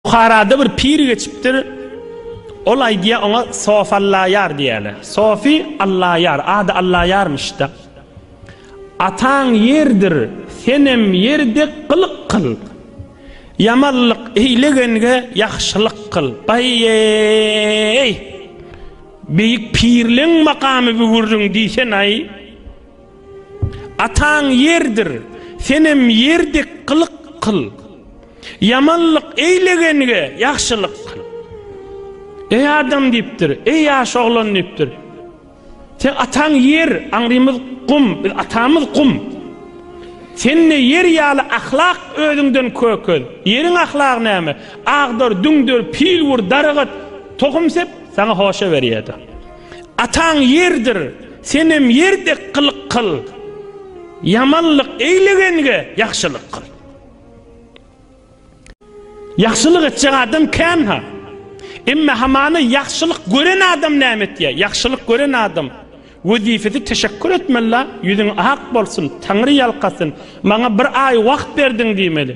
Buharada bir pir geçipdir. Ol aýdýar, oňa Sof Allaýar diýýärler. Sofi Allaýar, ady Allaýarmyş-da. Ataň ýerdir, senem ýer dek gylyk kyl. Ýamanlyk eýlegenge ýagşylyk kyl. Baý-eý! Beýik pirleň makamy bigürrüň diýsen-aý! Ataň ýerdir, senem ýer dek gylyk kyl. Ýamanlyk eýlegenge ýagşylyk kyl. Eý adam diýipdir, eý ýaş oglan diýipdir. Seň ataň ýer, aňrymyz gum, biz atamyz gum. Sende ýer ýaly ahlak özüňden kökez. Ýeriň ahlagy näme? Agdar, düňder, pil wur, daragat, tohum sep, saňa hoşa berýär-de. Ataň ýerdir, senem ýer dek gylyk kyl, Ýamanlyk eýlegenge ýagşylyk kyl. Ýagşylyk etjek adam kän-ha. Emma hamana ýagşylyk gören adam näme etýär? Ýagşylyk gören adam wezipesi teşekkür etmeli-la, Ýüzüň ak bolsun, Taňry ýalkasyn, maňa bir aý wagt berdiň diýmeli.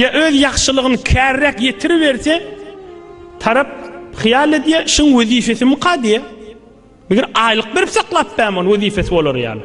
Ýa öz ýagşylygyny kärräk ýetiriberse, tarap hyýal edýär, şuň wezipesimikä diýýär. Meger aýlyk berip saklap bäm ony wezipesi bolar ýaly.